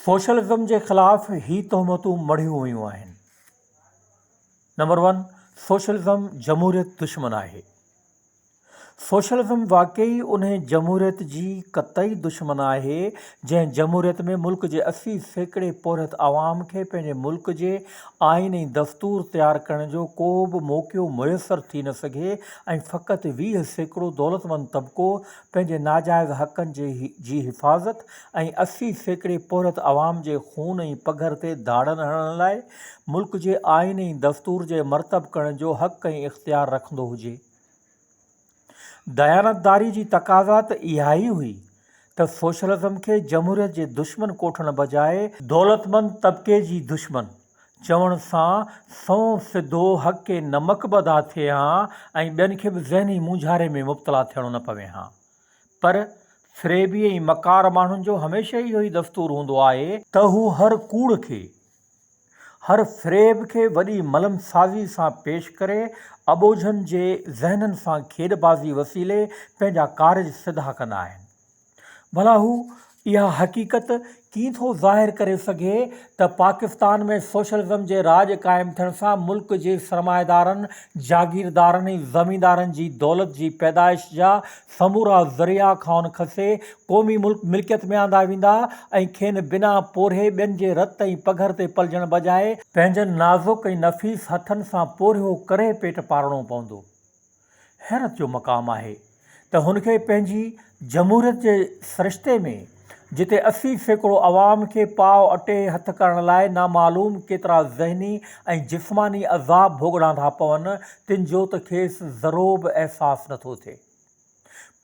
Socialism جي خلاف هي تهمتون مڙهيون ويون آهن. نمبر ون سوشلزم جمهوريت دشمن آهي. سوشلزم واقعي انهي جمهوريت جي قطعي دشمن آهي جنهن جمهوريت ۾ ملڪ جي اسي سيڪڙي پورهيت عوام کي پنهنجي ملڪ جي آئين ۽ دستور تيار ڪرڻ جو ڪو به موقعو ميسر ٿي نه سگهي ۽ فقط ويهه سيڪڙو دولتمند طبقو پنهنجي ناجائز حقن جي حفاظت ۽ اسي سيڪڙي پورهيت عوام جي خون ۽ پگهر تي ڌاڙن هڻڻ لاء ملڪ جي آئين ۽ دستور جي مرتب ڪرڻ جو حق ۽ اختيار رکندو هجي. ديانتداري جي تقاضا ته اها ئي هئي ته سوشلزم کي جمهوريت جي دشمن ڪوٺڻ بجاء، دولتمند طبقي جي دشمن، چوڻ سان سنئون سڌو حق نمڪ به ادا ٿئي ها ۽ ٻين کي به ذهني مونجهاري ۾ مبتلا ٿيڻو نه پوي ها. پر فريبي ۽ مڪار ماڻهن جو هميشه اهو ئي دستور هوندو آهي، ته هو هر ڪوڙ کي، هر فريب کي وڏي ملم سازي سان پيش ڪري اٻوجهن جي ذهنن سان کيڏ بازي وسيلي پنهنجا ڪارج سڌا ڪندا آهن. ڀلا هو اها حقيقت ڪيئن ٿو ظاهر ڪري سگهي ته پاڪستان ۾ سوشلزم جي راڄ قائم ٿيڻ سان ملڪ جي سرمائيدارن، جاگيردارن ۽ زميندارن جي دولت جي پيدائش جا سمورا ذريعا کانئن کسي قومي ملڪ ملڪيت ۾ آندا ويندا ۽ کين بنا پورهئي ٻين جي رت ۽ پگهر تي پلجڻ بجاء پنهنجن نازڪ ۽ نفيس هٿن سان پورهيو ڪري پيٽ پارڻو پوندو. حيرت جو مقام آهي ته هن کي پنهنجي جمهوريت جي سرشتي ۾ جتي اسي سيڪڙو عوام کي پاء اٽي هٿ ڪرڻ لاء نامعلوم ڪيترا ذهني ۽ جسماني عذاب ڀوڳڻا ٿا پون تن جو ته کيس ذرو به احساس نه ٿو ٿئي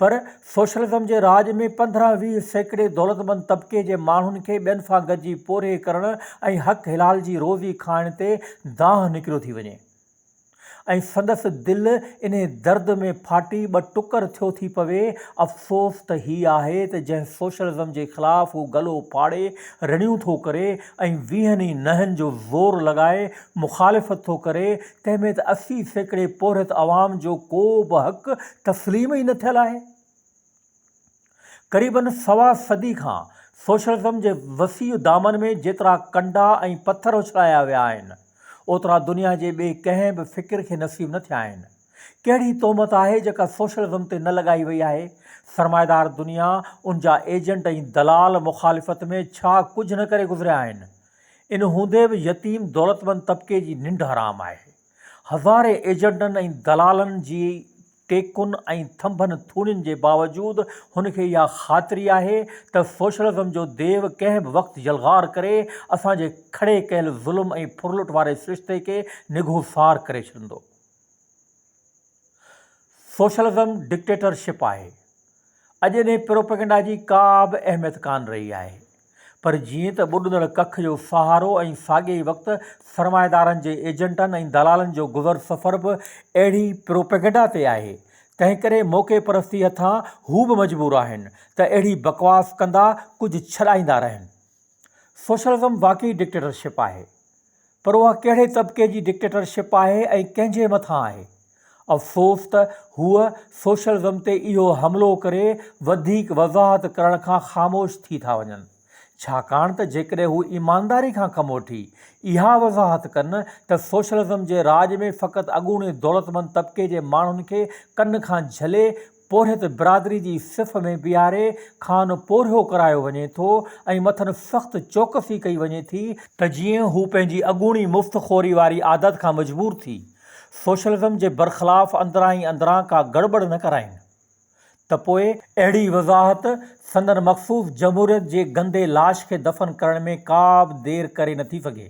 پر سوشلزم جي راڄ ۾ پندرهن ويهه سيڪڙي دولتمند طبقي جي ماڻهن کي ٻين سان گڏجي پورهيي ڪرڻ ۽ حق حلال جي روزي کائڻ تي دانهن نڪريو ٿي وڃي. ۽ سندس دل انهي درد ۾ ڦاٽي ٻه ٽڪر ٿيو ٿي پوي، افسوس ته هي آهي ته جنهن سوشلزم جي خلاف هو گلو ڦاڙي رڙيون ٿو ڪري ۽ ويهن ئي نهن جو زور لڳائي مخالفت ٿو ڪري، تنهن ۾ ته اسي سيڪڙي پورهيت عوام جو ڪو به حق تسليم ئي نه ٿيل آهي. قريبن سوا صدي کان سوشلزم جي وسيع دامن ۾ جيترا ڪنڊا ۽ پٿر اڇلايا ويا آهن، اوترا دنيا جي ٻئي ڪنهن به فڪر کي نصيب نه ٿيا آهن. ڪهڙي تهمت آهي جيڪا سوشلزم تي نه لڳائي وئي آهي؟ سرمائيدار دنيا، ان جا ايجنٽ ۽ دلال مخالفت ۾ ڇا ڪجهه نه ڪري گذريا آهن؟ ان هوندي به يتيم دولتمند طبقي جي ننڊ حرام آهي. هزارين ايجنٽن ۽ دلالن جي ٽيڪن ۽ ٿنڀن ٿوڻين جي باوجود هن کي اها خاطري آهي ته سوشلزم جو ديو ڪنهن به وقت يلغار ڪري اسان جي کڙي ڪيل ظلم ۽ ڦرلٽ واري سرشتي کي نگهوسار ڪري ڇڏندو. سوشلزم ڊڪٽيٽرشپ آهي. اڄ انهي پروپيگنڊا جي ڪا به اهميت ڪانه رهي آهي. پر جيئن ته ٻڏندڙ ڪک جو سهارو ۽ ساڳئي وقت سرمائيدارن جي ايجنٽن ۽ دلالن جو گذر سفر به اهڙي پروپيگنڊا تي آهي، تنهنڪري موقعي پرستي هٿان هو به مجبور آهن ته اهڙي بڪواس ڪندا ڪجهه ڇڏائيندا رهن. سوشلزم واقعي ڊڪٽيٽرشپ آهي. پر اها ڪهڙي طبقي جي ڊڪٽيٽرشپ آهي ۽ ڪنهن جي مٿان آهي؟ افسوس ته هوء سوشلزم تي اهو حملو ڪري وڌيڪ وضاحت ڪرڻ کان خاموش ٿي ٿا وڃن. ڇاڪاڻ ته جيڪڏهن هو ايمانداري کان ڪم وٺي اها وضاحت ڪن ته سوشلزم جي راڄ ۾ فقط اڳوڻي دولتمند طبقي جي ماڻهن کي ڪن کان جهلي پورهيت برادري جي صف ۾ بيهاري کان پورهيو ڪرايو وڃي ٿو ۽ مٿن سخت چوڪسي ڪئي وڃي ٿي ته جيئن هو پنهنجي اڳوڻي مفت خوري واري عادت کان مجبور ٿي سوشلزم جي برخلاف اندران ئي اندران ڪا گڙٻڙ نه ڪرائين ته پوء اهڙي وضاحت سندن مخصوص جمهوريت جي گندي لاش کي دفن ڪرڻ ۾ ڪا به دير ڪري نٿي سگهي.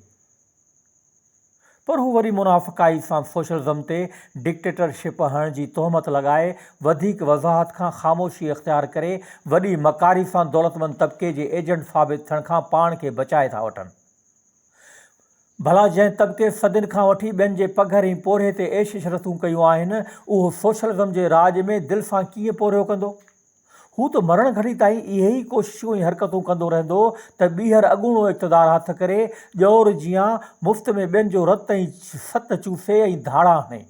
پر هو وري منافقائي سان سوشلزم تي ڊڪٽيٽر شپ هڻڻ جي تهمت لڳائي وڌيڪ وضاحت کان خاموشي اختيار ڪري وڏي مڪاري سان دولتمند طبقي جي ايجنٽ ثابت ٿيڻ کان پاڻ کي بچائي ٿا وٺن. ڀلا جنهن طبقي صدين کان وٺي ٻين جي پگهر ۽ پورهيي تي عيش عشرتون ڪيون آهن اهو سوشلزم جي راڄ ۾ دل سان ڪيئن پورهيو ڪندو؟ هو ته مرڻ گهڙي تائين اهي ئي ڪوششون ۽ حرڪتون ڪندو رهندو ته ٻيهر اڳوڻو اقتدار هٿ ڪري، ڄئور جيان مفت ۾ ٻين جو رت ۽ ست چوسي ۽ ڌاڙا هڻي.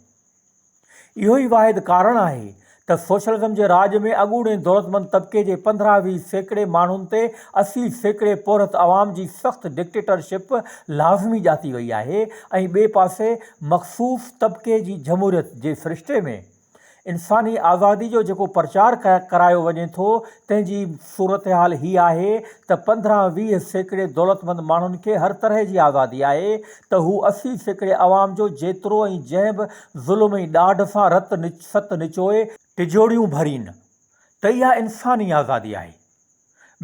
اهو ئي واحد ڪارڻ آهي ته سوشلزم جي راڄ ۾ اڳوڻي دولتمند طبقي جي پندرهن ويهه سيڪڙي ماڻهن تي اسي سيڪڙي پورهيت عوام جي سخت ڊڪٽيٽرشپ لازمي ڄاتي وئي آهي ۽ ٻئي پاسي مخصوص طبقي جي جمهوريت جي سرشتي ۾ انساني آزادي جو جيڪو پرچار ڪرايو وڃي ٿو تنهن جي صورتحال هي آهي ته پندرهن ويهه سيڪڙي دولتمند ماڻهن کي هر طرح جي آزادي آهي ته هو اسي سيڪڙي عوام جو جيترو ۽ جنهن به ظلم ۽ ڏاڍ سان رت ست نچوئي ٽجوڙيون ڀرين ته اها انساني آزادي آهي.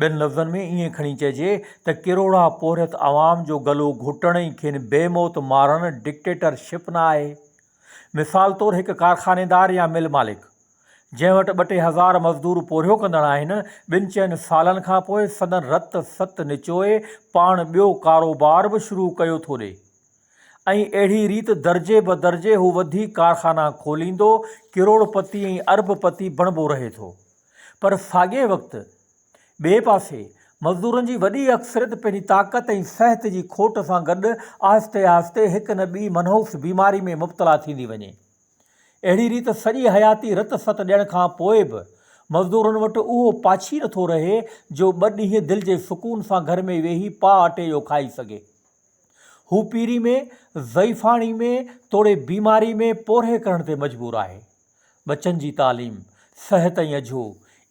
ٻين لفظن ۾ ائين کڻي چئجي ته ڪروڙها پورهيت عوام جو گلو گهوٽڻ ۽ کين بي موت مارڻ ڊڪٽيٽر شپ نه آهي مثال طور هڪ ڪارخانيدار يا مل مالڪ جنهن وٽ ٻه ٽي هزار مزدور پورهيو ڪندڙ آهن، ٻن چئن سالن کان پوء سندن رت ست نچوئي پاڻ ٻيو ڪاروبار به شروع ڪيو ٿو ڏئي ۽ اهڙي ريت درجي بدرجي هو وڌي ڪارخانا کوليندو ڪروڙ پتي ۽ ارب پتي بڻبو رهي ٿو پر ساڳئي وقت ٻئي پاسي مزدورن جي وڏي اڪثريت پنهنجي طاقت ۽ صحت جي کوٽ سان گڏ آهستي آهستي هڪ نه ٻي منحوس بيماري ۾ مبتلا ٿيندي وڃي. اهڙي ريت سڄي حياتي رت ست ڏيڻ کان پوء به مزدورن وٽ اهو پاڇي نٿو رهي جو ٻه ڏينهن دل جي سڪون سان گهر ۾ ويهي پاء اٽي جو کائي سگهي. هو پيري ۾، ضعيفاڻي ۾، توڙي بيماري ۾ پورهيي ڪرڻ تي مجبور آهي. ٻچن جي تعليم، صحت ۽ اجهو،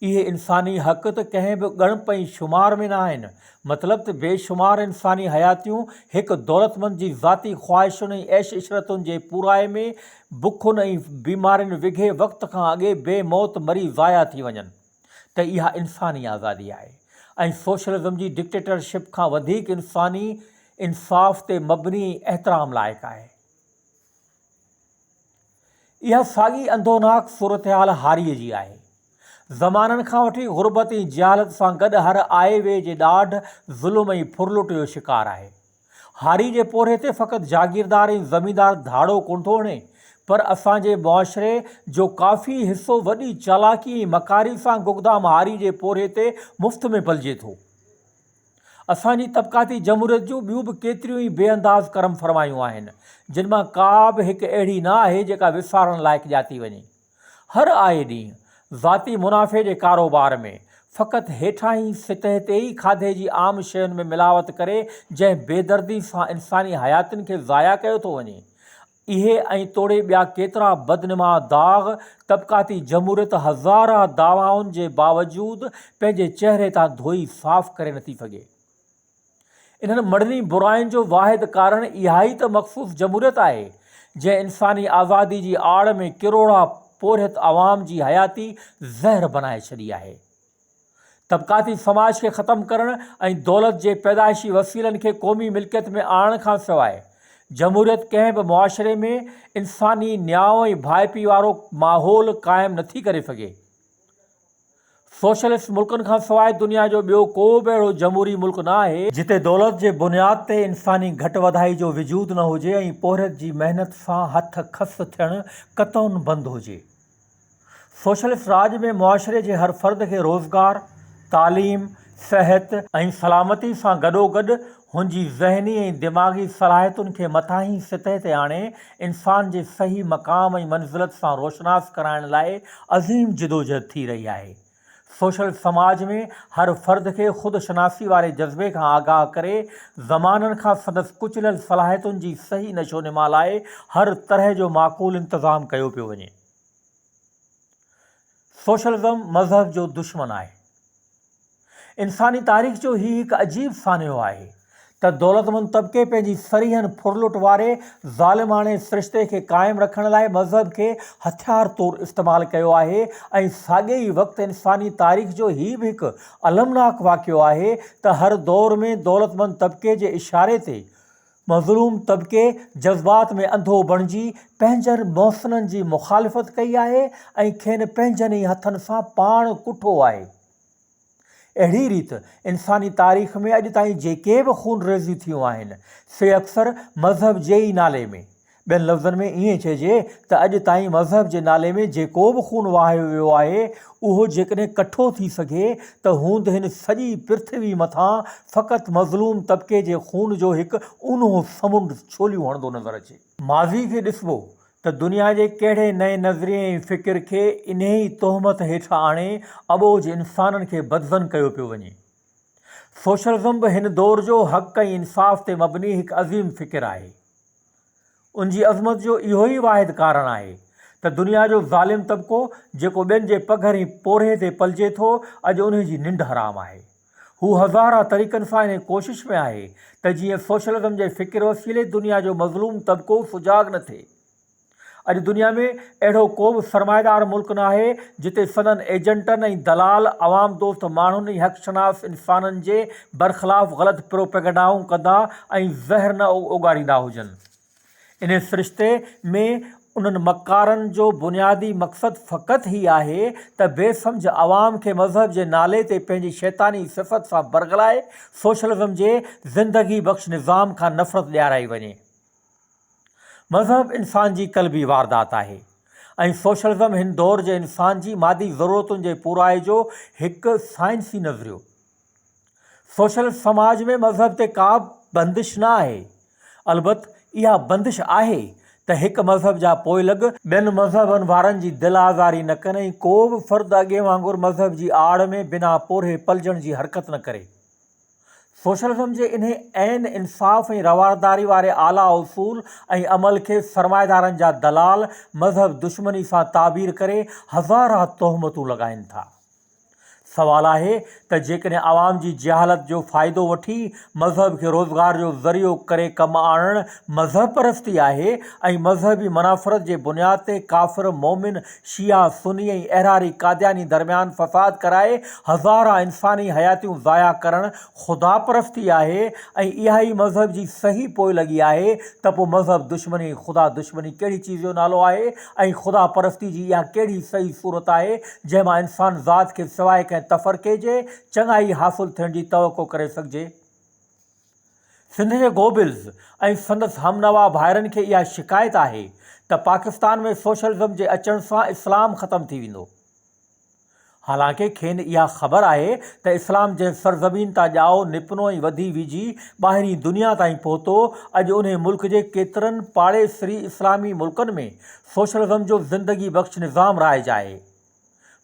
اهي انساني حق ته ڪنهن به ڳڻپ ۽ شمار ۾ نه آهن، مطلب ته بي شمار انساني حياتيون هڪ دولتمند جي ذاتي خواهشن ۽ عيش عشرتن جي پورائي ۾ بکن ۽ بيمارين وگهي وقت کان اڳي بي موت مري ضايع ٿي وڃن ته اها انساني آزادي آهي ۽ سوشلزم جي ڊڪٽيٽرشپ کان وڌيڪ انساني انصاف تي مبني ۽ احترام لائق آهي. اها ساڳي انڌوناڪ صورتحال هاريء جي آهي. زمانن کان وٺي غربت ۽ جهالت سان گڏ هر آئي ويء جي ڏاڍ، ظلم ۽ ڦرلٽ جو شڪار آهي. هاري جي پورهيي تي فقط جاگيردار ۽ زميندار ڌاڙو ڪونه ٿو هڻي، پر اسان جي معاشري جو ڪافي حصو وڏي چالاڪي ۽ مڪاري سان گگدام هاري جي پورهيي تي مفت ۾ پلجي ٿو. اسان جي طبقاتي جمهوريت جون ٻيون به ڪيتريون ئي بي انداز ڪرم فرمايون آهن، جن مان ڪا به هڪ اهڙي نه آهي جيڪا وسارڻ لائق ڄاتي وڃي. هر آئي ڏينهن ذاتي منافعي جي ڪاروبار ۾ فقط هيٺاهين سطح تي ئي کاڌي جي عام شين ۾ ملاوت ڪري جنهن بيدردي سان انساني حياتين کي ضايع ڪيو ٿو وڃي اهي ۽ توڙي ٻيا ڪيترا بدنما داغ طبقاتي جمهوريت هزارهن دعوائن جي باوجود پنهنجي چهري تان ڌوئي صاف ڪري نه ٿي سگهي. انهن مڙني براين جو واحد ڪارڻ اهائي ته مخصوص جمهوريت آهي، جنهن انساني آزادي جي آڙ ۾ ڪروڙها پورهيت عوام جي حياتي زهر بنائي ڇڏي آهي. طبقاتي سماج کي ختم ڪرڻ ۽ دولت جي پيدائشي وسيلن کي قومي ملڪيت ۾ آڻڻ کان سواء جمهوريت ڪنهن به معاشري ۾ انساني نيانء ۽ ڀائپي وارو ماحول قائم نه ٿي ڪري سگهي. سوشلسٽ ملڪن کان سواء دنيا جو ٻيو ڪو به اهڙو جمهوري ملڪ نه آهي، جتي دولت جي بنياد تي انساني گهٽ وڌائي جو وجود نه هجي ۽ پورهيت جي محنت سان هٿ کس ٿيڻ قطعاً بند هجي. سوشلسٽ راڄ ۾ معاشري جي هر فرد کي روزگار، تعليم، صحت ۽ سلامتي سان گڏوگڏ هن جي ذهني ۽ دماغي صلاحيتن کي مٿاهين سطح تي آڻي انسان جي صحيح مقام ۽ منزلت سان روشناس ڪرائڻ لاء عظيم جدوجهد ٿي رهي آهي. سوشل سماج ۾ هر فرد کي خود شناسي واري جذبي کان آگاهه ڪري زمانن کان سندس ڪچليل صلاحيتن جي صحيح نشونما لاء هر طرح جو معقول انتظام ڪيو پيو وڃي. سوشلزم مذهب جو دشمن آهي. انساني تاريخ جو هي هڪ عجيب سانحو آهي. ته دولتمند طبقي پنهنجي سريهن ڦرلٽ واري ظالماڻي سرشتي کي قائم رکڻ لاء مذهب کي هٿيار طور استعمال ڪيو آهي ۽ ساڳئي ئي وقت انساني تاريخ جو هي به هڪ المناڪ واقعو آهي ته هر دور ۾ دولتمند طبقي جي اشاري تي مظلوم طبقي جذبات ۾ انڌو بڻجي پنهنجن محسنن جي مخالفت ڪئي آهي ۽ کين پنهنجن ئي هٿن سان پاڻ ڪٺو آهي. اهڙي ريت انساني تاريخ ۾ اڄ تائين جيڪي به خون ريزيون ٿيون آهن سي اڪثر مذهب جي ئي نالي ۾، ٻين لفظن ۾ ائين چئجي ته اڄ تائين مذهب جي نالي ۾ جيڪو به خون وهايو ويو آهي اهو جيڪڏهن ڪٺو ٿي سگهي ته هوند هن سڄي پرٿوي مٿان فقط مظلوم طبقي جي خون جو هڪ اونهو سمنڊ ڇوليون هڻندو نظر اچي. ماضي کي ڏسبو ته دنيا جي ڪهڙي نئين نظريي ۽ فڪر کي انهي ئي تهمت هيٺ آڻي اٻوجهه انسانن کي بدظن ڪيو پيو وڃي. سوشلزم به هن دور جو حق ۽ انصاف تي مبني هڪ عظيم فڪر آهي. ان جي عظمت جو اهو ئي واحد ڪارڻ آهي ته دنيا جو ظالم طبقو جيڪو ٻين جي پگهر ۽ پورهيي تي پلجي ٿو اڄ انهي جي ننڊ حرام آهي. هو هزارهان طريقن سان انهيء ڪوشش ۾ آهي ته جيئن سوشلزم جي فڪر وسيلي دنيا جو مظلوم طبقو سجاڳ نه ٿئي. اڄ دنيا ۾ اهڙو ڪو به سرمائيدار ملڪ ناهي جتي سندن ايجنٽن ۽ دلال عوام دوست ماڻهن ۽ حق شناس انسانن جي برخلاف غلط پروپيگنڊائون ڪندا ۽ زهر نه اوڳاريندا هجن. انهي سرشتي ۾ انهن مڪارن جو بنيادي مقصد فقط هي آهي ته بي سمجهه عوام کي مذهب جي نالي تي پنهنجي شيطاني صفت سان برغلائي سوشلزم جي زندگي بخش نظام کان نفرت ڏيارائي وڃي. مذهب انسان جي قلبي واردات آهي ۽ سوشلزم هن دور جي انسان جي مادي ضرورتن جي پورائي جو هڪ سائنسي نظريو سوشل سماج ۾ مذهب تي ڪا به بندش نه آهي، البت اها بندش آهي ته هڪ مذهب جا پوئلڳ، ٻين مذهبن وارن جي دل آزاري نه ڪن ۽ ڪو به فرد اڳين وانگر مذهب جي آڙ ۾ بنا پورهئي پلجڻ جي حرڪت نه ڪري. سوشلزم جي انهي عين انصاف ۽ روارداري واري اعليٰ اصول ۽ عمل کي سرمائيدارن جا دلال مذهب دشمني سان تعبير ڪري هزارها تهمتون لڳائين ٿا. سوال آهي ته جيڪڏهن عوام جي جهالت جو فائدو وٺي مذهب کي روزگار جو ذريعو ڪري ڪم آڻڻ مذهب پرستي آهي ۽ مذهبي منافرت جي بنياد تي ڪافر مومن شيعا سني ۽ احراري قادياني درميان فساد ڪرائي هزارها انساني حياتيون ضايع ڪرڻ خدا پرستي آهي ۽ اها ئي مذهب جي صحيح پوئلڳي آهي ته پوء مذهب دشمني ۽ خدا دشمني ڪهڙي چيز جو نالو آهي ۽ خدا پرستي جي اها ڪهڙي صحيح صورت آهي، جنهن مان انسان ذات کي سواء ڪنهن تفرقي جي، چڱائي حاصل ٿيڻ جي توقع ڪري سگهجي؟ سنڌ جي گوبلز ۽ سندس هم نوا ڀائرن کي اها شڪايت آهي ته پاڪستان ۾ سوشلزم جي اچڻ سان اسلام ختم ٿي ويندو. حالانڪه کين اها خبر آهي ته اسلام جنهن سرزمين تان ڄائو نپنو ۽ وڌي ويجهي ٻاهرين دنيا تائين پهتو، اڄ انهي ملڪ جي ڪيترن پاڙيسري اسلامي ملڪن ۾ سوشلزم جو زندگي بخش نظام رائج آهي.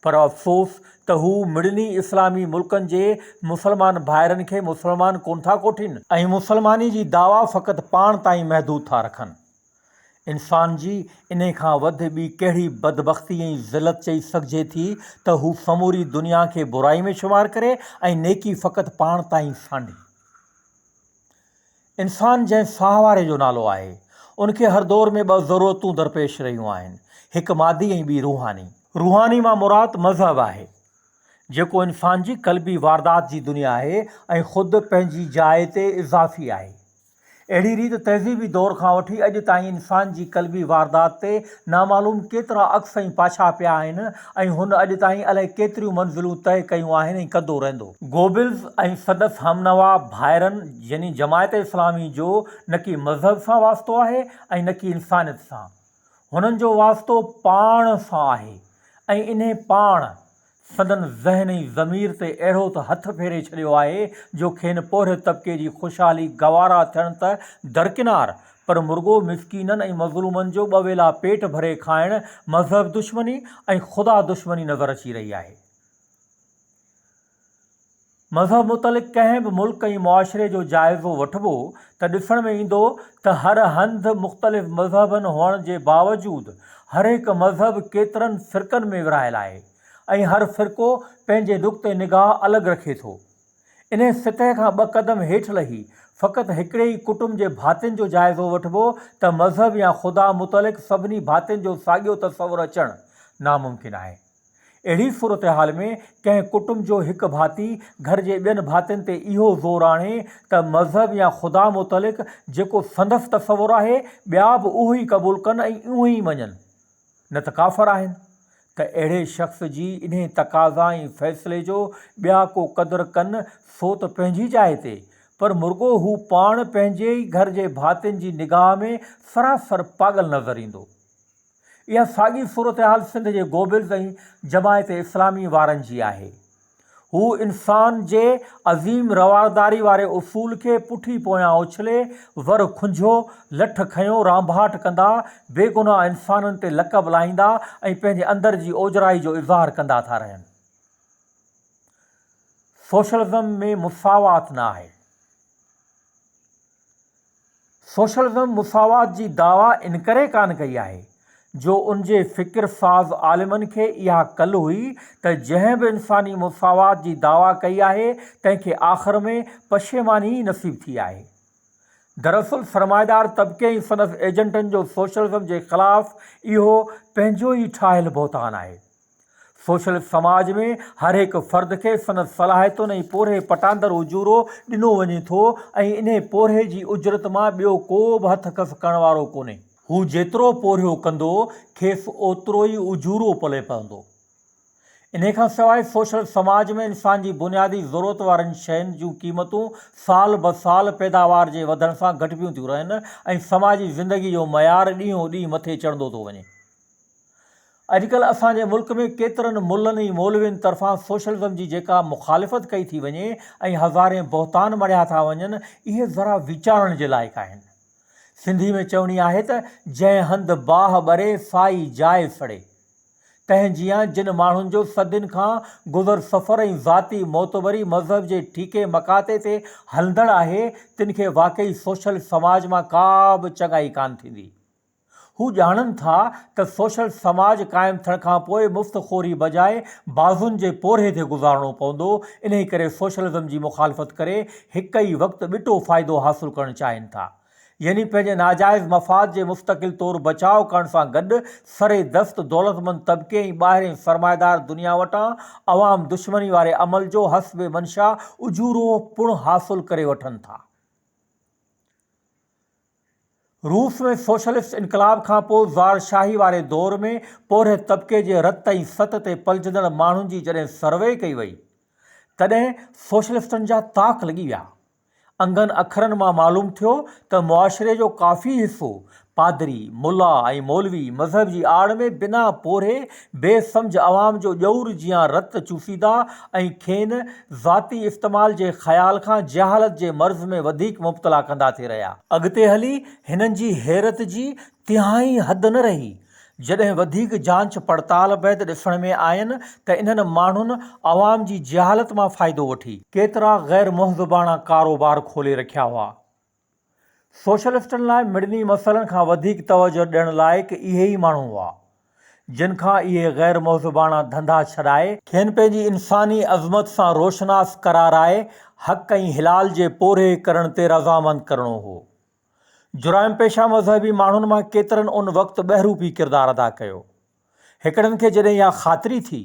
پر افسوس ته هو مڙني اسلامي ملڪن جي مسلمان ڀائرن کي مسلمان ڪونه ٿا ڪوٺين، ۽ مسلماني جي دعويٰ فقط پاڻ تائين محدود ٿا رکن، انسان جي انهي کان وڌ ٻي ڪهڙي بدبختي ۽ ذلت چئي سگهجي ٿي ته هو سموري دنيا کي برائي ۾ شمار ڪري ۽ نيڪي فقط پاڻ تائين سانڍي. انسان جنهن ساهه واري جو نالو آهي، ان کي هر دور ۾ ٻه ضرورتون درپيش رهيون آهن، هڪ مادي ۽ ٻي روحاني. روحاني مان مراد مذهب آهي، جيڪو انسان جي قلبي واردات جي دنيا آهي ۽ خود پنهنجي جاء تي اضافي آهي. اهڙي ريت تهذيبي دور کان وٺي اڄ تائين انسان جي قلبي واردات تي نامعلوم ڪيترا عڪس ۽ پاڇا پيا آهن ۽ هن اڄ تائين الائي ڪيتريون منزلون طئي ڪيون آهن ۽ ڪندو رهندو. گوبلز ۽ سندس همنوا ڀائرن يعني جماعت اسلامي جو نه ڪي مذهب سان واسطو آهي ۽ نه ڪي انسانيت سان. هنن جو واسطو پاڻ سان آهي ۽ انهي پاڻ سندن ذهن ۽ ضمير تي اهڙو ته هٿ ڦيري ڇڏيو آهي جو کين پورهيت طبقي جي خوشحالي گوارا ٿيڻ ته درڪنار پر مرڳو مسڪينن ۽ مظلومن جو ٻه ويلا پيٽ ڀري کائڻ مذهب دشمني ۽ خدا دشمني نظر اچي رهي آهي. مذهب متعلق ڪنهن به ملڪ ۽ معاشري جو جائزو وٺبو ته ڏسڻ ۾ ايندو ته هر هنڌ مختلف مذهبن هئڻ جي باوجود هرهڪ مذهب ڪيترن فرقن ۾ ورهايل آهي ۽ هر فرقو پنهنجي نقطه نگاهه الڳ رکي ٿو. انهي سطح کان ٻه قدم هيٺ لهي فقط هڪڙي ئي ڪٽنب جي ڀاتين جو جائزو وٺبو ته مذهب يا خدا متعلق سڀني ڀاتين جو ساڳيو تصور اچڻ ناممڪن آهي. اهڙي صورتحال ۾ ڪنهن ڪٽنب جو هڪ ڀاتي گهر جي ٻين ڀاتين تي اهو زور آڻي ته مذهب يا خدا متعلق جيڪو سندس تصور آهي ٻيا به اهو ئي قبول ڪن ۽ اونهي ئي مڃن نه ته ڪافر آهن ته اهڙي شخص جي انهي تقاضا ۽ فيصلي جو ٻيا ڪو قدر ڪن سو ته پنهنجي جاء تي پر مرڳو هو پاڻ پنهنجي ئي گهر جي ڀاتين جي نگاهه ۾ سراسر پاڳل نظر ايندو. اها ساڳي صورتحال سنڌ جي گوبلز ۽ جماعت اسلامي وارن جي آهي. هو انسان جي عظيم روارداري واري اصول کي پٺي پويان اڇلي، ور کنجهو، لٺ کنيو رانڀاٽ ڪندا، بيگناهه انسانن تي لقب لاهيندا ۽ پنهنجي اندر جي اوجرائي جو اظهار ڪندا ٿا رهن. سوشلزم ۾ مساوات نه آهي. سوشلزم مساوات جي دعويٰ انڪري ڪانه ڪئي آهي جو ان جي فڪر ساز عالمن کي اها ڪل هئي ته جنهن به انساني مساوات جي دعويٰ ڪئي آهي تنهن کي آخر ۾ پشيماني ئي نصيب ٿي آهي. دراصل سرمائيدار طبقي ۽ سندس ايجنٽن جو سوشلزم جي خلاف اهو پنهنجو ئي ٺاهيل بهتان آهي. سوشلسٽ سماج ۾ هر هڪ فرد کي سندس صلاحيتن ۽ پورهئي پٽاندر اجورو ڏنو وڃي ٿو ۽ انهي پورهئي جي اجرت مان ٻيو ڪو به هٿ کس ڪرڻ وارو ڪونهي. هو جيترو پورهيو ڪندو، کيس اوترو ئي اجورو پلئه پوندو. انهي کان سواء سوشلسٽ سماج ۾ انسان جي بنيادي ضرورت وارين شين جون قيمتون سال به سال پيداوار جي وڌڻ سان گهٽبيون ٿيون رهن ۽ سماجي زندگي جو معيار ڏينهون ڏينهن مٿي چڙهندو ٿو وڃي. اڄڪلهه اسان جي ملڪ ۾ ڪيترن ملن ۽ مولوين طرفان سوشلزم جي جيڪا مخالفت ڪئي ٿي وڃي ۽ هزارين بهتان مڙهيا ٿا وڃن اهي ذرا ويچارڻ جي لائق آهن. سنڌي ۾ چوڻي آهي ته جنهن هنڌ باهه ٻري سائي جاء سڙي. تنهن جيان جن ماڻهن جو صدين کان گذر سفر ۽ ذاتي معتبري مذهب جي ٺيڪي مڪاتي تي هلندڙ آهي تن کي واقعي سوشل سماج مان ڪا به چڱائي ڪانه ٿيندي. هو ڄاڻن ٿا ته سوشل سماج قائم ٿيڻ کانپوء مفت خوري بجاء بازون جي پورهيي تي گذارڻو پوندو، انهي ڪري سوشلزم جي مخالفت ڪري هڪ ئي وقت ٻٽو فائدو حاصل ڪرڻ چاهين ٿا. يعني پنهنجي ناجائز مفاد جي مستقل طور بچاء ڪرڻ سان گڏ سري دست دولتمند طبقي ۽ ٻاهرين سرمائيدار دنيا وٽان عوام دشمني واري عمل جو حسب منشا اجورو پڻ حاصل ڪري وٺن ٿا. روس ۾ سوشلسٽ انقلاب کانپوء زار شاهي واري دور ۾ پورهيت طبقي جي رت ۽ ست تي پلجندڙ ماڻهن جي جڏهن سروي ڪئي وئي تڏهن سوشلسٽن جا تاڪ لڳي ويا. انگن اکرن مان معلوم ٿيو ته معاشري جو ڪافي حصو پادري، ملا ۽ مولوي مذهب جي آڙ ۾ بنا پورهيي بي سمجهه عوام جو ڄئور جيان رت چوسيندا ۽ کين ذاتي استعمال جي خيال کان جهالت جي مرض ۾ وڌيڪ مبتلا ڪندا ٿي رهيا. اڳتي هلي هنن جي حيرت جي تهائي حد نه رهي، جڏهن وڌيڪ جانچ پڙتال بعد ڏسڻ ۾ آين ته انهن ماڻهن عوام جي جهالت مان فائدو وٺي، ڪيترا غير مهذباڻا ڪاروبار کولي رکيا هئا، سوشلسٽن لاء مڙني مسئلن کان وڌيڪ توجهه ڏيڻ لائق اهي ئي ماڻهو هئا، جن کان اهي غير مهذباڻا ڌنڌا ڇڏائي، کين پنهنجي انساني عظمت سان روشناس قرارائي حق ۽ حلال جي پورهئي ڪرڻ تي رضامند ڪرڻو هو. جرائم پيشه مذهبي ماڻهن مان ڪيترن ان وقت ٻهروپي ڪردار ادا ڪيو. هڪڙن کي جڏهن اها خاطري ٿي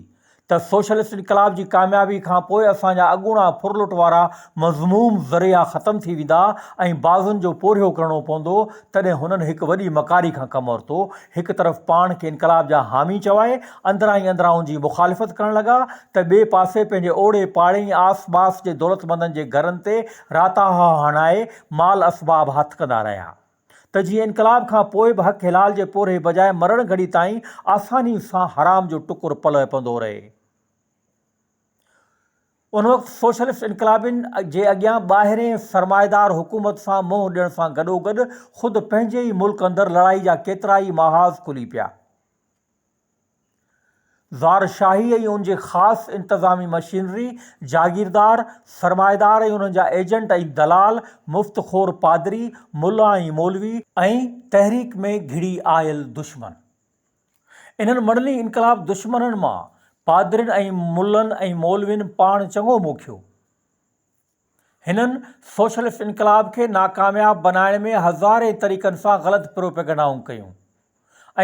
ته سوشلسٽ انقلاب جي ڪاميابي کان پوء اسان جا اڳوڻا ڦرلٽ وارا مذموم ذريعا ختم ٿي ويندا ۽ بازن جو پورهيو ڪرڻو پوندو، تڏهن هنن هڪ وڏي مڪاري کان ڪم ورتو، هڪ طرف پاڻ کي انقلاب جا حامي چوائي اندران ئي اندران ان جي مخالفت ڪرڻ لڳا ته ٻئي پاسي پنهنجي اوڙي پاڙي ۽ آس ٻاس جي دولتمندن جي گهرن تي راتاها هڻائي مال اسباب هٿ ڪندا رهيا. ته جيئن انقلاب کان پوء به حق حلال جي پورهئي بجاء مرڻ گهڙي تائين آساني سان حرام جو ٽڪر پلئه پندو رهي. ان وقت سوشلسٽ انقلابين جي اڳيان ٻاهرين سرمائيدار حڪومت سان منهن ڏيڻ سان گڏوگڏ خود پنهنجي ئي ملڪ اندر لڙائي جا ڪيترائي محاذ کلي پيا. زارشاهي ۽ ان جي خاص انتظامي مشينري، جاگيردار، سرمائيدار ۽ انهن جا ايجنٽ ۽ دلال، مفت خور پادري، ملا ۽ مولوي، ۽ تحريڪ ۾ گهڙي آيل دشمن انهن مڙني انقلاب دشمنن مان پادرين ۽ ملن ۽ مولوين پاڻ چڱو موکيو. هنن سوشلسٽ انقلاب کي ناڪامياب بنائڻ ۾ هزارين طريقن سان غلط پروپيگنڊائون ڪيون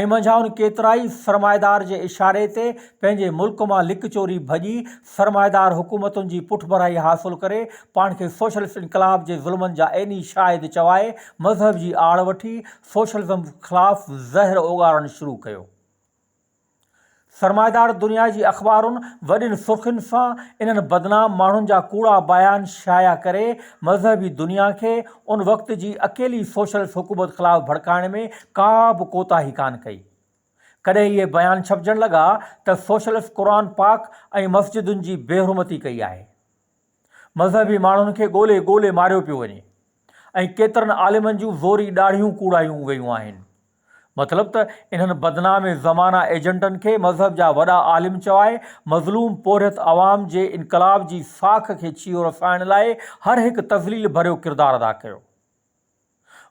۽ منجهائن ڪيترائي سرمائيدار جي اشاري تي پنهنجي ملڪ مان لڪ چوري ڀڄي سرمائيدار حڪومتن جي پٺڀرائي حاصل ڪري پاڻ کي سوشلسٽ انقلاب جي ظلمن جا عيني شاهد چوائي مذهب جي آڙ وٺي سوشلزم خلاف زهر اوڳاڙڻ شروع ڪيو. سرمائيدار دنيا جي اخبارن وڏين سرخين سان انهن بدنام ماڻهن جا ڪوڙا بيان شايع ڪري مذهبي دنيا کي ان وقت جي اڪيلي سوشلسٽ حڪومت خلاف ڀڙڪائڻ ۾ ڪا به ڪوتاهي ڪانه ڪئي. ڪڏهن اهي بيان ڇپجڻ لڳا ته سوشلسٽ قرآن پاڪ ۽ مسجدن جي بيحرمتي ڪئي آهي. مذهبي ماڻهن کي ڳولي ڳولي ماريو پيو وڃي ۽ ڪيترن عالمن جون زوري ڏاڙهيون ڪوڙايون ويون آهن. مطلب ته انهن بدنام زمانه ايجنٽن کي مذهب جا وڏا عالم چوائي مظلوم پورهيت عوام جي انقلاب جي ساک کي ڇيهو رسائڻ لاء هر هڪ تذليل ڀريو ڪردار ادا ڪيو.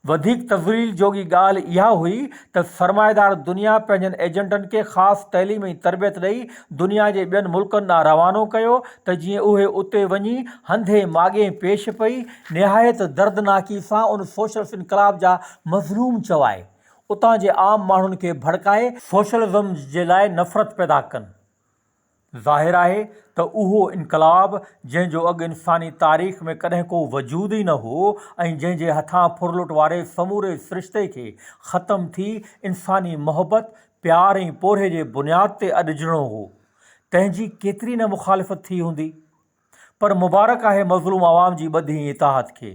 وڌيڪ تفصيل جوڳي ڳالهه اها هئي ته سرمائيدار دنيا پنهنجن ايجنٽن کي خاص تعليم ۽ تربيت ڏئي دنيا جي ٻين ملڪن ڏانهن روانو ڪيو ته جيئن اهي اتي وڃي هنڌي ماڳهين پيش پئي نهايت دردناڪي سان ان سوشلسٽ انقلاب جا مظلوم چوائي اتان جي عام ماڻهن کي ڀڙڪائي سوشلزم جي لاء نفرت پيدا ڪن ظاهر آهي ته اهو انقلاب جنهن جو اڳ انساني تاريخ ۾ ڪڏهن ڪو وجود ئي نه هو ۽ جنهن جي هٿان ڦرلٽ واري سموري سرشتي کي ختم ٿي انساني محبت، پيار ۽ پورهئي جي بنياد تي اڏجڻو هو، تنهن جي ڪيتري نه مخالفت ٿي هوندي. پر مبارڪ آهي مظلوم عوام جي ٻڌي ۽ اطاعت کي،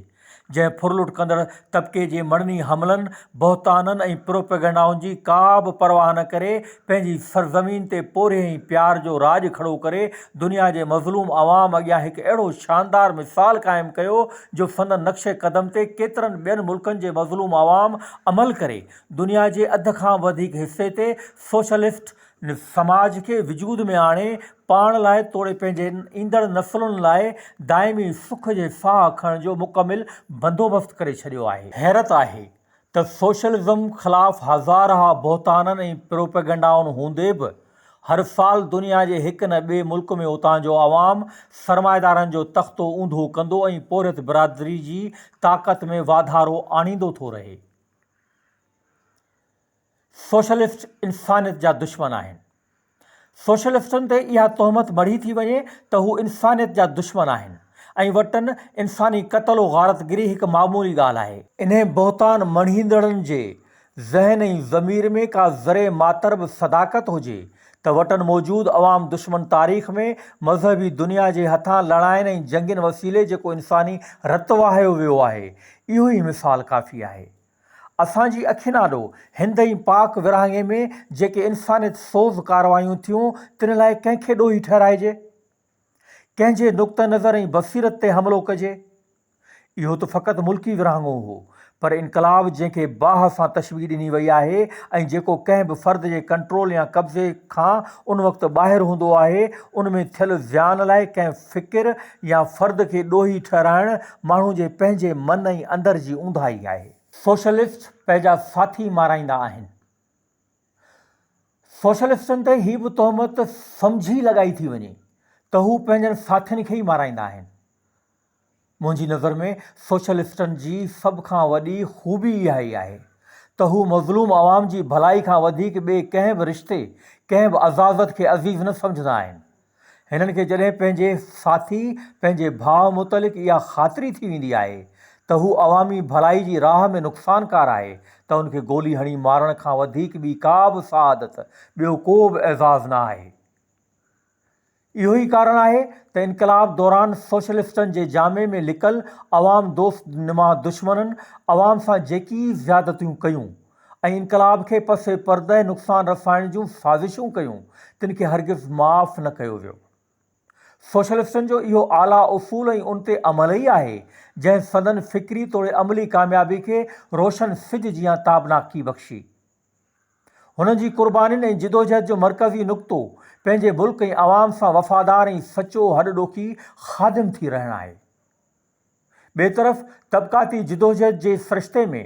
جنهن ڦرلٽ ڪندڙ طبقي جي مڙني حملن، بهتانن ۽ پروپيگنڊائن جي ڪا به پرواهه نه ڪري، پنهنجي سرزمين تي پورهيي ۽ پيار جو راڄ کڙو ڪري، دنيا جي مظلوم عوام اڳيان هڪ اهڙو شاندار مثال قائم ڪيو، جو سندن نقش قدم تي ڪيترن ٻين ملڪن جي مظلوم عوام عمل ڪري، دنيا جي اڌ کان به وڌيڪ حصي تي سوشلسٽ، سماج کي وجود ۾ آڻي پاڻ لاء توڙي پنهنجي ايندڙ نسلن لاء دائمي سک جي ساهه کڻڻ جو مڪمل بندوبست ڪري ڇڏيو آهي. حيرت آهي ته سوشلزم خلاف هزارها بهتانن ۽ پروپيگنڊائن هوندي به هر سال دنيا جي هڪ نه ٻئي ملڪ ۾ اتان جو عوام سرمائيدارن جو تختو اونڌو ڪندو ۽ پورهيت برادري جي طاقت ۾ واڌارو آڻيندو ٿو رهي. سوشلسٽ انسانيت جا دشمن آهن. سوشلسٽن تي اها تهمت مڙهي ٿي وڃي ته هو انسانيت جا دشمن آهن ۽ وٽن انساني قتل و غارتگري هڪ معمولي ڳالهه آهي. انهي بهتان مڙهيندڙن جي ذهن ۽ ضمير ۾ ڪا ذري ماتر به صداقت هجي ته وٽن موجود عوام دشمن تاريخ ۾ مذهبي دنيا جي هٿان لڙاين ۽ جنگين وسيلي جيڪو انساني رت وهايو ويو آهي اهو ئي مثال ڪافي آهي. اسان جي اکين آڏو هند ۽ پاڪ ورهاڱي ۾ جيڪي انسانيت سوز ڪارروايون ٿيون تن لاء ڪنهن کي ڏوهي ٺهرائجي؟ ڪنهن جي نقطه نظر ۽ بصيرت تي حملو ڪجي؟ اهو ته فقط ملڪي ورهاڱو هو پر انقلاب جنهن کي باهه سان تشبيهه ڏني وئي آهي ۽ جيڪو ڪنهن به فرد جي ڪنٽرول يا قبضي کان ان وقت ٻاهر هوندو آهي ان ۾ ٿيل زيان لاء ڪنهن فڪر يا فرد کي ڏوهي ٺهرائڻ ماڻهو جي پنهنجي من ۽ اندر جي اونداهي آهي. سوشلسٽ پنهنجا ساٿي مارائيندا آهن. سوشلسٽن تي هي به تهمت سمجهي لڳائي ٿي وڃي ته هو پنهنجن ساٿين کي ئي مارائيندا آهن. منهنجي نظر ۾ سوشلسٽن جي سڀ کان وڏي خوبي اها ئي آهي ته هو مظلوم عوام جي ڀلائي کان وڌيڪ ٻئي ڪنهن به رشتي، ڪنهن به عزازت کي عزيز نه سمجهندا آهن. هنن کي جڏهن پنهنجي ساٿي، پنهنجي ڀاء متعلق اها خاطري ٿي ويندي آهي ته هو عوامي ڀلائي جي راهه ۾ نقصانڪار آهي ته ان کي گولي هڻي مارڻ کان وڌيڪ ٻي ڪا به سعادت، ٻيو ڪو به اعزاز نه آهي. اهو ئي ڪارڻ آهي ته انقلاب دوران سوشلسٽن جي جامي ۾ لڪل عوام دوست نما دشمنن عوام سان جيڪي زيادتيون ڪيون ۽ انقلاب کي پس پرده نقصان رسائڻ جون سازشون ڪيون تن کي هرگز معاف نه ڪيو ويو. سوشلسٽن جو اهو اعليٰ اصول ۽ ان تي عمل ئي آهي جنهن سندن فڪري توڙي عملي ڪاميابي کي روشن سج جيان تابناڪي بخشي. هن جي قربانين ۽ جدوجهد جو مرڪزي نقطو پنهنجي ملڪ ۽ عوام سان وفادار ۽ سچو هڏ ڏوکي خادم ٿي رهڻ آهي. ٻئي طرف طبقاتي جدوجهد جي سرشتي ۾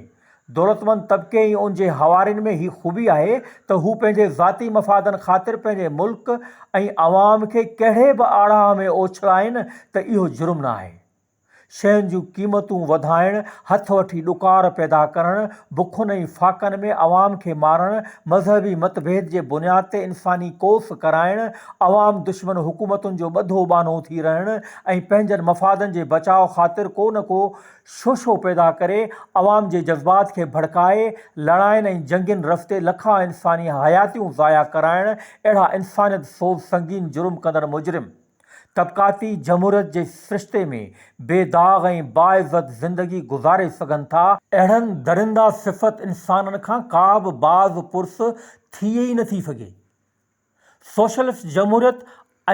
دولتمند طبقي ۽ ان جي حوارين ۾ هي خوبي آهي ته هو پنهنجي ذاتي مفادن خاطر پنهنجي ملڪ ۽ عوام کي ڪهڙي به آڙاهه ۾ اوڇلائين ته اهو جرم نه آهي. شين جون قيمتون وڌائڻ، هٿ وٺي ڏڪار پيدا ڪرڻ، بکن ۽ فاقن ۾ عوام کي مارڻ، مذهبي متڀيد جي بنياد تي انساني ڪوس ڪرائڻ، عوام دشمن حڪومتن جو ٻڌو ٻانهو ٿي رهڻ ۽ پنهنجن مفادن جي بچاء خاطر ڪو نه ڪو شوشو پيدا ڪري عوام جي جذبات کي ڀڙڪائي لڙاين ۽ جنگين رستي لکان انساني حياتيون ضايع ڪرائڻ اهڙا انسانيت سوز سنگين جرم ڪندڙ مجرم طبقاتي جمهوريت جي سرشتي ۾ بي داغ ۽ باعزت زندگي گذاري سگهن ٿا، اهڙن درنده صفت انسانن کان ڪا به باز پرس ٿئي ئي نه ٿي سگهي. سوشلسٽ جمهوريت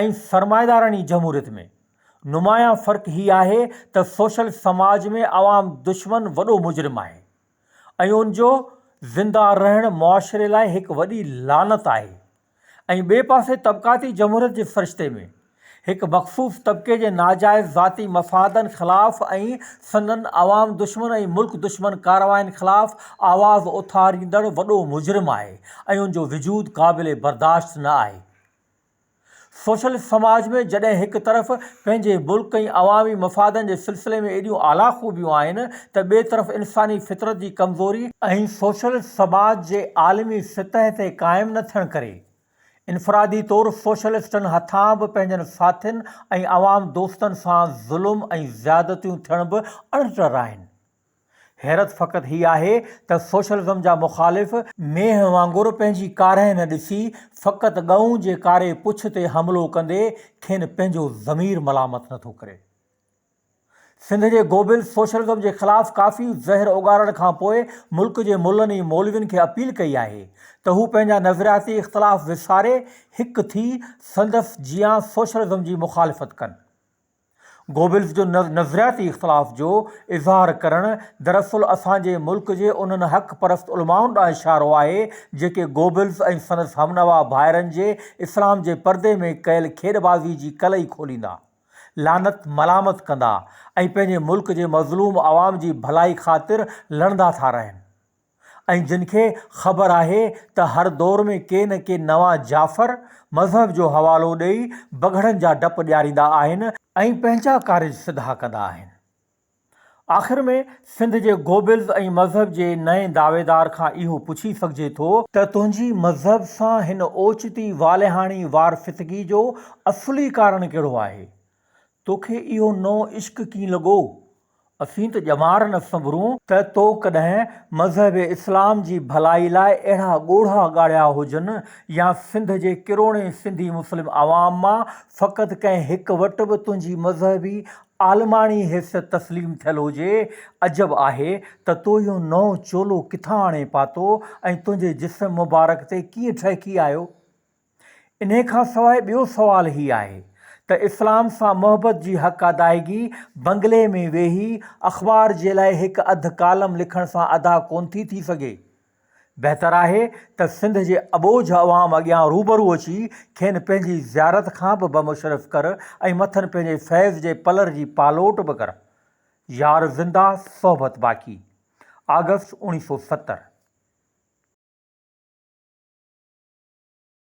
۽ سرمائيداراڻي جمهوريت ۾ نمايان فرق هي آهي ته سوشلسٽ سماج ۾ عوام دشمن وڏو مجرم آهي ۽ ان جو زنده رهڻ معاشري لاء هڪ وڏي لعنت آهي. ۽ ٻئي پاسي طبقاتي جمهوريت جي سرشتي ۾ هڪ مخصوص طبقي جي ناجائز ذاتي مفادن خلاف ۽ سندن عوام دشمن ۽ ملڪ دشمن ڪاررواين خلاف آواز اٿاريندڙ وڏو مجرم آهي ۽ ان جو وجود قابل برداشت نه آهي. سوشلسٽ سماج ۾ جڏهن هڪ طرف پنهنجي ملڪ ۽ عوامي مفادن جي سلسلي ۾ ايڏيون اعليٰ خوبيون آهن ته ٻئي طرف انساني فطرت جي ڪمزوري ۽ سوشلسٽ سماج جي عالمي سطح تي قائم نه ٿيڻ ڪري انفرادي طور سوشلسٽن هٿان به پنهنجن ساٿين ۽ عوام دوستن سان ظلم ۽ زيادتيون ٿيڻ به اڻٽر آهن. حيرت فقط هي آهي ته سوشلزم جا مخالف مينهن وانگر پنهنجي ڪارهي نه ڏسي فقط ڳئون جي ڪاري پڇ تي حملو ڪندي کين پنهنجو ضمير ملامت نه ٿو ڪري. سنڌ جي گوبل سوشلزم جي خلاف ڪافي زهر اوڳارڻ کان پوء ملڪ جي ملن ۽ مولوين کي اپيل ڪئي آهي ته هو پنهنجا نظرياتي اختلاف وساري هڪ ٿي سندس جيان سوشلزم جي مخالفت ڪن. گوبلز جو نظرياتي اختلاف جو اظهار ڪرڻ دراصل اسان جي ملڪ جي انهن حق پرست علمائن ڏانهن اشارو آهي جيڪي گوبلز ۽ سندس همنوا ڀائرن جي اسلام جي پردي ۾ ڪيل کيڏبازي جي ڪلئي کوليندا، لعنت ملامت ڪندا ۽ پنهنجي ملڪ جي مظلوم عوام جي ڀلائي خاطر لڙندا ٿا رهن. ۽ جن کي خبر آهي ته هر دور ۾ ڪي نه ڪي نوان جعفر مذهب جو حوالو ڏئي بگهڙن جا ڊپ ڏياريندا آهن ۽ پنهنجا ڪارج سڌا ڪندا آهن آخر ۾ سنڌ جي گوبلز ۽ مذهب جي نئين دعويدار کان اهو پڇي سگهجي ٿو ته تنهنجي مذهب سان هن اوچتي والهاڻي وار فتگي جو اصلي ڪارڻ ڪهڙو آهي توکي اهو نئون عشق ڪين لڳو؟ اسين ته ڄمار نه سنڀرون ته تو ڪڏهن مذهب اسلام جي ڀلائي لاء اهڙا ڳوڙها ڳاڙيا هجن يا سنڌ جي ڪروڙين سنڌي مسلم عوام مان فقط ڪنهن هڪ وٽ به تنهنجي مذهبي عالماڻي حيثيت تسليم ٿيل هجي. عجب آهي ته تو اهو نئون چولو ڪٿان آڻي پاتو ۽ تنهنجي جسم مبارڪ تي ڪيئن ٺهڪي آيو؟ انهي کان سواء ٻيو سوال هي آهي ته اسلام سان محبت جي حق ادائگي بنگلي ۾ ويهي اخبار جي لاء هڪ اڌ ڪالم لکڻ سان ادا ڪون ٿي ٿي سگهي؟ بهتر آهي ته سنڌ جي اٻوجهه عوام اڳيان روبرو اچي کين پنهنجي زيارت کان به بمشرف ڪر ۽ مٿن پنهنجي فيض جي پلر جي پالوٽ به ڪر. يار زنده صحبت باقي. آگسٽ اوڻيهه سؤ ستر.